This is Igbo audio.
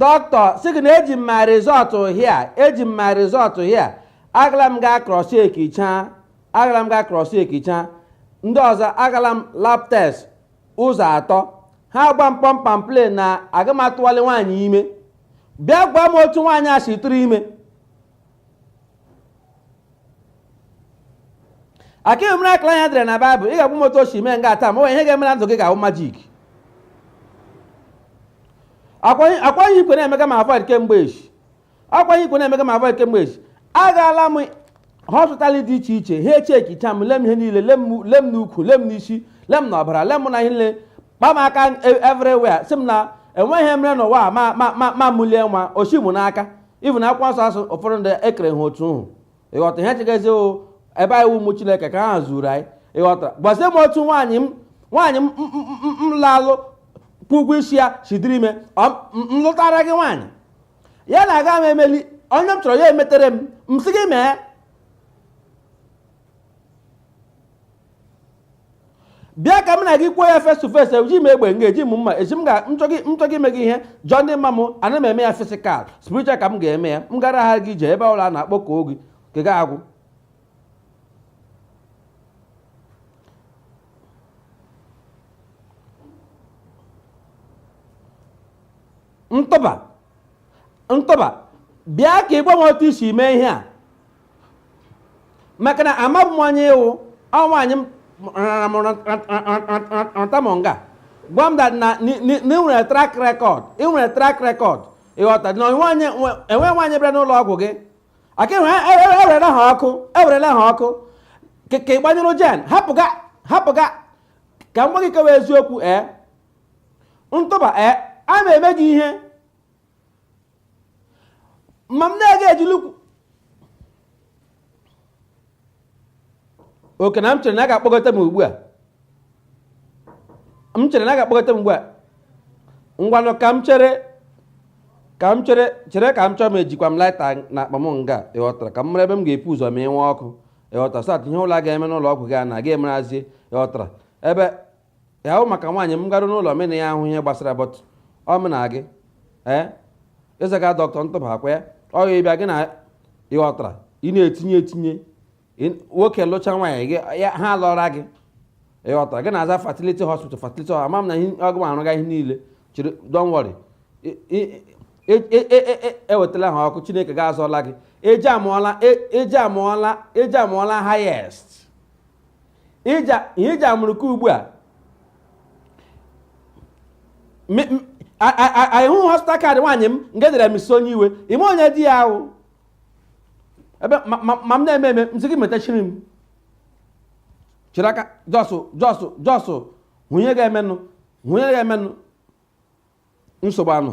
dọkịta sị gị na eji m my result here eji m my result here agala m gaa cross-checkịcha agala m gaa cross-checkịcha ndị ọzọ agala m lab test ụzọ atọ ha gwa m pump and plain na aga m atụwali nwaanyị ime bịa gwa m otu nwaanyị a si tụrụ ime aka emere akara anya dịrị na baịbụl ị ga-agwa m otu o si mee nga taa ma ọ bụ ihe ga-eme na ndụ gị ga-awụ majik akwanye ikwe na-emega m avoid kemgbe echi akwanye ikwe na-emega m avoid kemgbe echi agaala m hospital dị iche iche ha echekicha m lee m ihe niile lee m- lee m n'ukwu lee m n'isi lee m n'ọbara lee m na ihe niile kpa m aka e- everywhere sị m na enweghị ihe mere n'ụwa a ma ma ma ma mụlie nwa o shi mụ n'aka even akwụkwọ nsọ asị ụfọdụ ndị e kere ha otu hụ ịghọta ihe chegazi o ebe anyị ụmụ chineke ka ha zuru anyị ịghọtara gwazie m otu nwaanyị m nwaanyị m m lalụ kwụọ ụgwọ isi ya si dịrị ime m lụtara gị nwaanyị ya na aga m emeli onye m chọrọ ya emetere m m sị gị mee bịa ka m na gị kwuo ya face to face eji m egbe nga eji m mma eji m ga nchọ gị ime gị ihe jụọ ndị ma m ana m eme ya physical spiritual ka m ga-eme ya m gara ha gị jee ebe ala na-akpọ ọkụ oge ka ga-agwụ ntụba ntụba bịa ka ị gwa m otu i si mee ihe a maka na amabu m onye ị wụ ọ nwaanyị m rara m rata m nga gwa m that na i nwere track record i nwere track record ịghọta na enwe nwaanyị bịara n'ụlọ ọgwụ gị aka ewerela ha ọkụ ewerela ha ọkụ ka ị gbanyụrụ gen hapụga hapụga ka m gwa gị kewa eziokwu ee ntụba ee ana m eme gị ihe ma m na-aga ejilukwu oke na m chere na ọ ga-akpọgote m ugbu a m chere na ọ ga-akpọgote m ugbu a ngwanụ ka m chere ka m chere chere ka m chọọ m ejikwa m lighter na akpa m nga ịghọtara ka m mara ebe m ga-epu ụzọ ma i nwe ọkụ ịghọtara so that ihe ọ wụla ga-eme n'ụlọ ọgwụ gị a na ga-emerazie ịghọtara ebe ya ahụ maka nwaanyị m garụ n'ụlọ mụ na ya ahụ ihe gbasara but ọ mụ na gị ee ị zaga dọkịta ntụba ọ kwa ya ọ ya ị bịa gị na ịghọtara ị na-etinye etinye ị- nwoke lụcha nwaanyị gị ya ha lụọra gị ịghọtara gị na-aza fertility hospital fertility hospital ama m na ihe- ọgụ m arụga ihe niile chiri don't worry I- i- e- e- e- e- e- ewetala ha ọkụ chineke ga-azọla gị eji amụọla e- eji amụọla eji amụọla highest ihe iji amụrụka ugbu a ị hụ hospital card nwaanyị m nke dere Mrs onye iwe ime onye di ya wụ ebe ma m na-eme eme m sị gị metachiri m chịrị aka jọsụ jọsụ jọsụ hụnye ga-emenụ hụnye ga-emenụ nsogbu unu